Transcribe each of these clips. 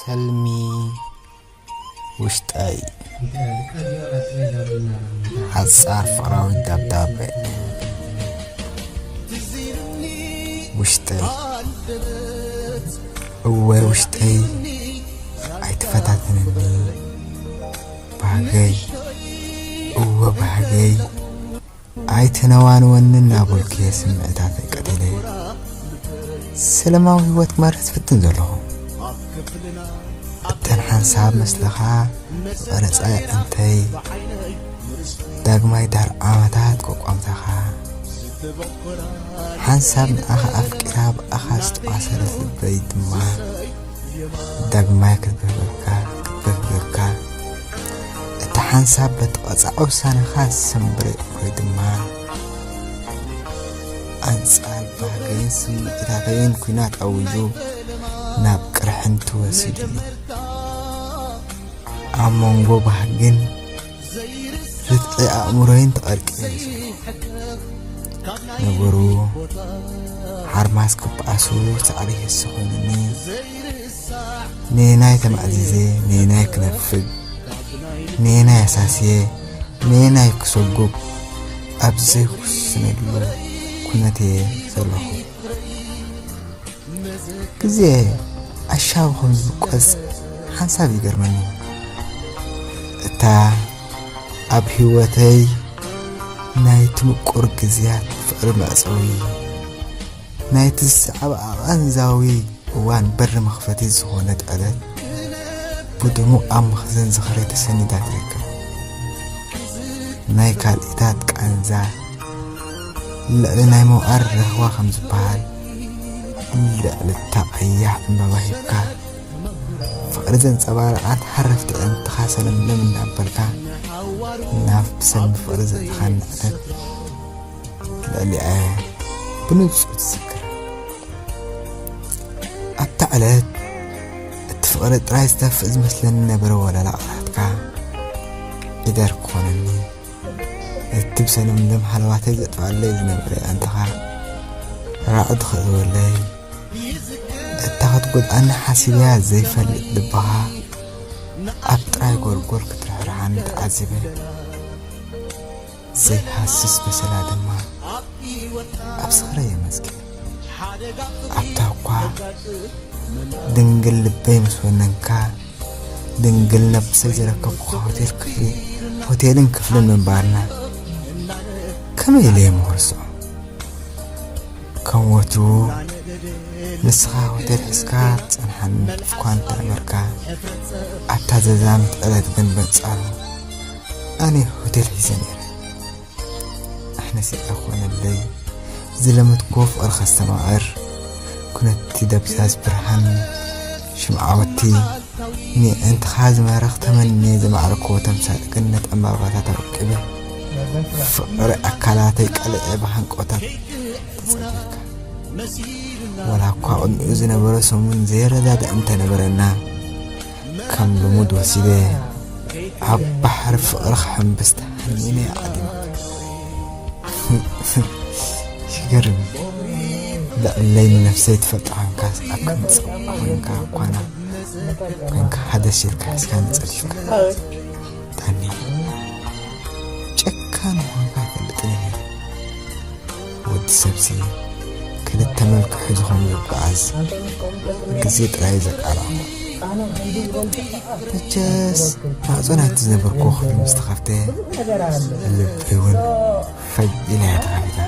ሰልሚ ውሽጣይ ሓጻር ፍቕራዊ ደብዳበ ውሽጠይ እወ ውሽጠይ ኣይተፈታተነኒ ባህገይ እወ ባህገይ ኣይተነዋንወኒ እናበልኩ'የ ስምዒታተይ ቀቲለ ሰለማዊ ህይወት ክመርሕ ዝፍትን ዘለኹ። እተን ሓንሳብ መስለኻ ዝቐረጻ የዕንተይ ዳግማይ ዳር ዓመታት ቆቋምታኻ ሓንሳብ ንኣኻ ኣፍቂራ ብኣኻ ዝተቋሰረት ልበይ ድማ ዳግማይ ክገብረልካ ክበር ጌርካ እቲ ሓንሳብ በቲ ቐጻዒ ውሳነኻ ዝሰምበረ እኮይ ድማ ኣንጻር ባህገይን ስምዒታተይን ኩናት ኣዊጁ ናብ ቅርሕንቲ ወሲዱኒ ኣብ መንጎ ባህግን ርትዒ ኣእምሮይን ተቐርቂሩ ነበሩ ሓርማዝ ክበኣሱ ፃዕሪ ህሲ ኮይኑኒ ነየናይ ተማእዚዘ ነየናይ ክነፍግ ነየናይ ኣሳስየ ነየናይ ክሰጉግ ኣብ ዘይውስነሉ ኩነት እየ ዘለኹ ግዜ ኣሻብ ከም ዝቆጽ ሓንሳብ ይገርመኒ እታ ኣብ ህይወተይ ናይቲ ምቁር ግዜያት ፍቕሪ መዕጸዊ ናይቲ ዝሰዕብ ኣቐንዛዊ እዋን በሪ መኽፈቲ ዝኾነት ዕለት ብድሙቕ ኣብ መኽዘን ዝኽሪ ተሰኒዳ ትርከብ ናይ ካልኢታት ቃንዛ ልዕሊ ናይ ምውዓር ርህዋ ከም ዝበሃል ልዕሊ እታ ቀያሕ ዕምባባ ሂብካ ፍቕሪ ዘንጸባረቓት ሃረፍቲ ዕንትኻ ሰለምለም እንዳበልካ ናብ ብሰልሚ ፍቕሪ ዘእትኻ ንዕተት ልዕሊኣ ብንጹር ትዝክር ኣብታ ዕለት እቲ ፍቕሪ ጥራይ ዝተፍእ ዝመስለኒ ነበረ ወለላ ቃላትካ ኢደር ኮነኒ እትብ ሰለምለም ሃለዋተይ ዘጥፍኣለይ ዝነብረ ኣንተኻ ራዕዲ ክእልወለይ እታ ክትጎድኣኒ ሓሲበያ ዘይፈልጥ ልብኻ ኣብ ጥራይ ጎልጎል ክትርሕርሓኒ ተዓዚበ ዘይሃስስ በሰላ ድማ ኣብ ስኽረይ የመዝጊበ ኣንታኳ ድንግል ልበይ ምስ ወነንካ ድንግል ነብሰይ ዝረከብኩካ ሆቴል ክፍሊ ሆቴልን ክፍልን ምንባርና ከመይ ኢለ እየ ምክርስዖ ከም ወትሩ ንስኻ ሆቴል ሕዝካ ትጸንሓኒ እኳ እንተነበርካ ኣብታ ዘዛምት ዕለት ግን በንጻሩ ኣነ ሆቴል ሒዘ ነይረ ኣሕነሰ ኣኾነለይ ዝለመትክዎ ፍቕሪ ከስተማቕር ኩነቲ ደብዛዝ ብርሃን ሽምዓወቲ ንእንትኻ ዝማረኽ ተመንየ ዘማዕረክዎ ተምሳጥ ገነት ዕምባባታት ኣወቂበ ፍቕሪ ኣካላተይ ቀልዐ ብሃንቆታት ተጸጊካ ወላ እኳ ቅድሚኡ ዝነበረ ሰሙን ዘይረዳዳእ እንተነበረና ከም ልሙድ ወሲደ ኣብ ባሕሪ ፍቕሪ ክሕምብስ ተሃኒነ ዓዲመ ይገርም ልዕለይ ንነፍሰይ ትፈልጦ ኮንካ ኣብ ክንጽቕ ኮንካ ኳና ኮንካ ሓደ ሲልካ ሒዝካ ንጸሪፍካ ታኒ ጨካን ኮንካ ይፈልጥ ነይረ ወዲ ሰብሲ ክልተ መልክሑ ዝኾኑ ይበኣዝ ግዜ ጥራይ ዘቃላዕሞ መቸስ ማዕፆ ናይቲ ዝነበርኩ ክፍሊ ምስ ተኸፍተ ልበይ እውን ፈጅ ኢላ እያ ተኸፊታ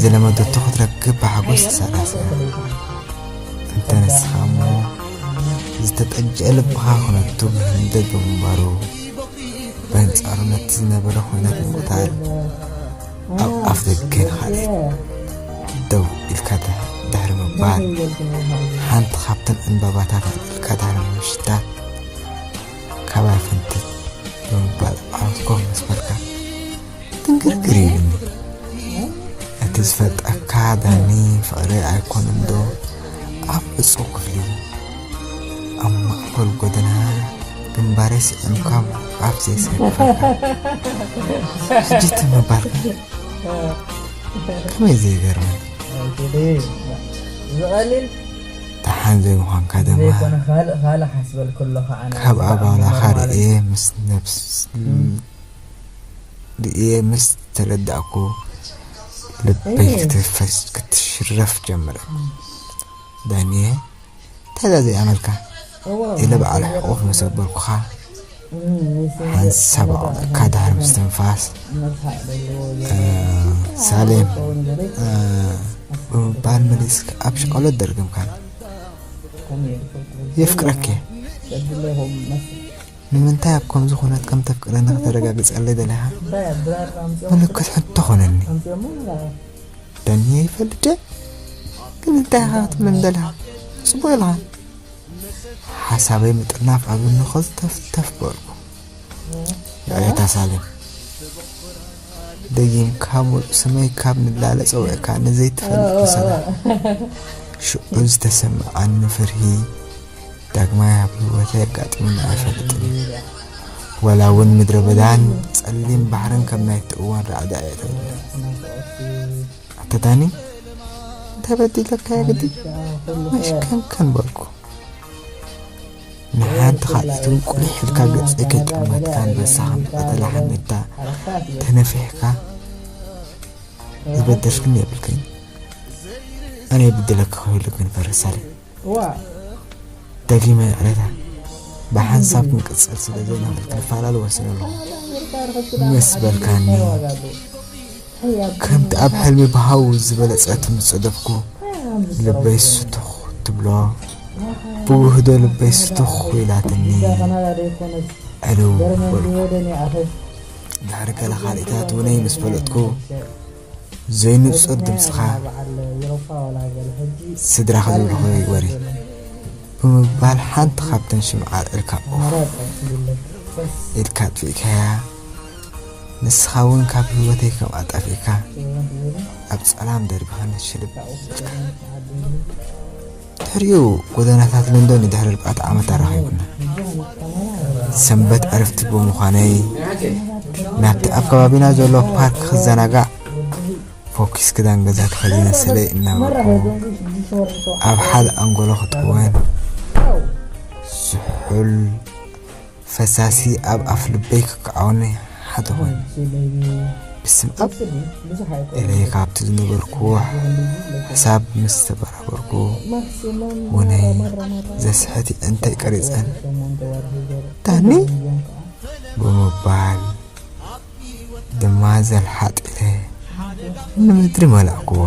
ዝለመደቶ ክትረክብ ብሓጎስ ተሰላስና እንተ ንስኻ እሞ ዝተጠጀ ልብኻ ክነቱ ብህንደት ብምንባሩ በንጻሩ ነቲ ዝነበረ ዅናት ንምቕታል ኣብ ኣፍ ደገ ንኻልእ ደው ኢልካ ድሕሪ ምባል ሓንቲ ካብተን ዕምባባታት ኣጥልካ ድሕሪ ምሽታት ካባይ ፍንትት ብምባል ዓወትኩም መስፈልካ ትንግርግር ኢሉኒ እቲ ዝፈልጠካ ዳኒ ፍቕሪ ኣይኮነን ዶ ኣብ ዕፁው ክፍሊ ኣብ ማእኸል ጎደና ግንባረይ ስዒምካ ኣብ ዘይሰርፈካ ሕጂ ትምባልካ ከመይ ዘይገርመን ዝቐሊል ደሓን ዘይምዃንካ ድማ ዘይኮነ ካልእ ካልእ ሓስበልኩ ኣለኹ ኣነ ካብ ኣባላኻ ርእየ ምስ ነብስ እየ ምስ ተረዳእኩ ልበይ ክትፈስ ክትሽረፍ ጀመረ ዳንየ ታዛ ዘይኣመልካ ኢለ በዓል ሕቑፍ ምስ ኣበልኩኻ ሓንሳብ ኣቕኒዕካ ድሕሪ ምስትንፋስ ሳሌም ብምባል መሊስክ ኣብ ሸቐሎት ደርገምካን የፍቅረክ እየ ንምንታይ ኣብ ከምዚ ኩነት ከም ተፍቅረኒ ከተረጋግጸለይ ደሊኻ? ምልክት ሕቶ ኮነኒ። ደንየ ይፈልጥ ድየ? ግን እንታይ ኢኻ ክትብለኒ ደሊኻ? ጽቡቕ ኢልኻ። ሓሳበይ ምጥርናፍ ኣብ እንኸ ዝተፍተፍ በልኩ። ንዕታ ሳሌም ደጊምካ ሙሉእ ስመይ ካብ ንላለ ጸዊዕካ ንዘይትፈልጥ መሰላ ሽዑ ዝተሰምዓኒ ፍርሂ ዳግማይ ኣብ ህይወተይ ኣጋጢሙኒ ኣይፈልጥን እዩ። ዋላ እውን ምድረ በዳን ጸሊም ባሕርን ከም ናይቲ እዋን ራዕዲ እየ ተብለ ኣታ ዳኒ እንታይ በዲለካዮ ግዲ መሽከንከን በልኩ ንሓንቲ ካልኣይቲ እውን ቁሊሕ ኢልካ ገጸይ ከይጠመትካ ኣንበሳ ከም ዝቐተላ ሓመድታ ተነፊሕካ ዝበደልክን የብልክን ኣነ ይብድለካ ክህሉ ግን ፈረሳለይ ደጊመ ይቕሬታ ብሓንሳብ ክንቅጽል ስለ ዘይንኽእል ክንፈላለ ወሲነ ኣለኹ ምስ በልካኒ ከምቲ ኣብ ሕልሚ ብሃው ዝበለጸ ትምጸደፍኩ ልበይ ስቱኽ ትብሎ ብውህዶ ልበይ ስቱኽ ኢላትኒ ዕልው በልኩ ድሕሪ ገለ ካልኢታት ውነይ ምስ ፈለጥኩ ዘይንጹር ድምጽኻ ስድራኺ ዝብልኹ ወሬ ብምባል ሓንቲ ካብተን ሽምዓ ኣልዒልካ ኦፍ ኢልካ ኣጥፊእካያ ንስኻ እውን ካብ ህይወተይ ከም ኣጣፊእካ ኣብ ጸላም ደርቢኻ ንሽልብ ኢልካ ድሕሪኡ ጎደናታት ለንደን ንድሕሪ ኣርባዕተ ዓመት ኣራኺቡና። ሰንበት ዕርፍቲ ብምዃነይ ናብቲ ኣብ ከባቢና ዘሎ ፓርክ ክዘናጋዕ ፎኪስ ክዳን ገዛ ተኸዲነ ሰለይ እናበልኩ ኣብ ሓደ ኣንጎሎ ክጥወን ዝሑል ፈሳሲ ኣብ ኣፍ ልበይ ክከዓውኒ ሓደ ኮይኑ ብስም ኣብ ኢለ ካብቲ ዝነበርኩዎ ሕሳብ ምስ ተበራበርኩ ውነይ ዘስሕት የእንተይ ቀሪፀን ዳኒ ብምባል ድማ ዘልሓጥ ኢለ ንምድሪ መላእኩዋ